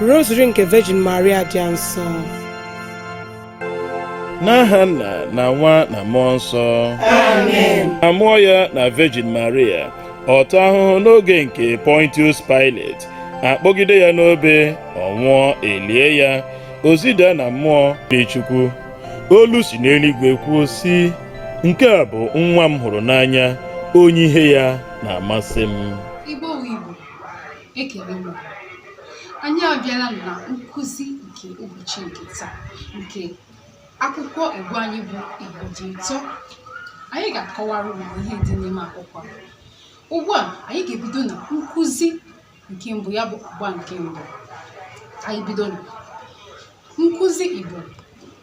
Rosary nke Virgin Maria dị nsọ n'aha nna na nwa na mmụọ nsọ amen a mụọ ya na Virgin Maria ọ taa ahụhụ n'oge nke Pontius Pilate a kpọgide ya n'obe ọ nwụọ e lie ya o zida na mmụọ dị Chukwu olu si n'eluigwe kwuo sị nke a bụ nwa m hụrụ n'anya onye ihe ya na-amasị m Ekele m anyị abịala na nkụzi nke ụbọchị nke taa nke akwụkwọ Igbo anyị bụ Igbo dị ụtọ anyị ga-akọwara unu ihe dị n'ime akwụkwọ a. Ugbu a anyị ga-ebido na nkụzi nke mbụ ya bụ agba nke mbụ anyị bido na nkụzi Igbo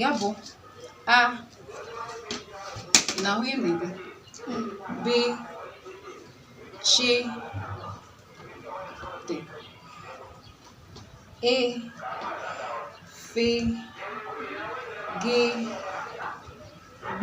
ya bụ a na ahụ emebe b ch d e f g gb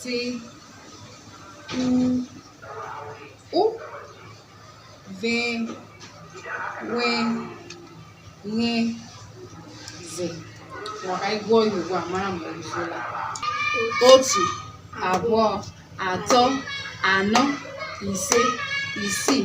t u ụ v w y z ka anyị gụọ ya ugbu a mara ma o zuola otu abụọ atọ anọ ise isii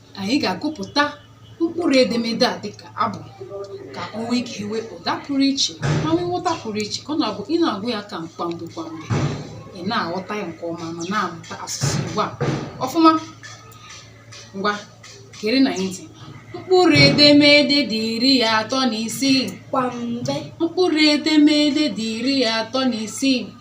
anyị ga-agụpụta mkpụrụ edemede a dịka abụ ka o nwee ike nwee ụda pụrụ iche ma nwee nghọta pụrụ iche ka ọ na-abụ ị na-agụ ya kwamgbe kwamgbe ị na-aghọta ya nke ọma ma na-amụta asụsụ Igbo a ọfụma ngwa gerenụ anyị ntị mkpụrụ edemede dị iri atọ na isii kwamgbe mkpụrụ edemede dị iri atọ na isii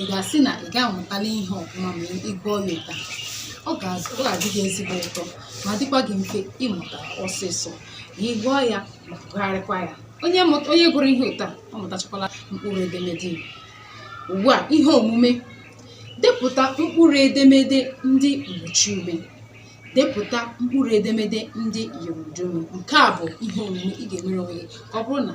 ị ga-asị na ị ga-amụtala ihe ọfụma ma ị gụọ ya otu a ọ ga-azụ ọ ga-adị gị ezigbo ụtọ ma dịkwa gị mfe ịmụta ọsịsọ ma ị gụọ ya ma gụgharịkwa ya onye mụta onye gụrụ ihe otu a ọ mụtachakwala mkpụrụ edemede Igbo ugbu a ihe omume depụta mkpụrụ edemede ndị mgbochiume depụta mkpụrụ edemede ndị ụdaume nke a bụ ihe omume ị ga-emere onwe gị ka ọ bụrụ na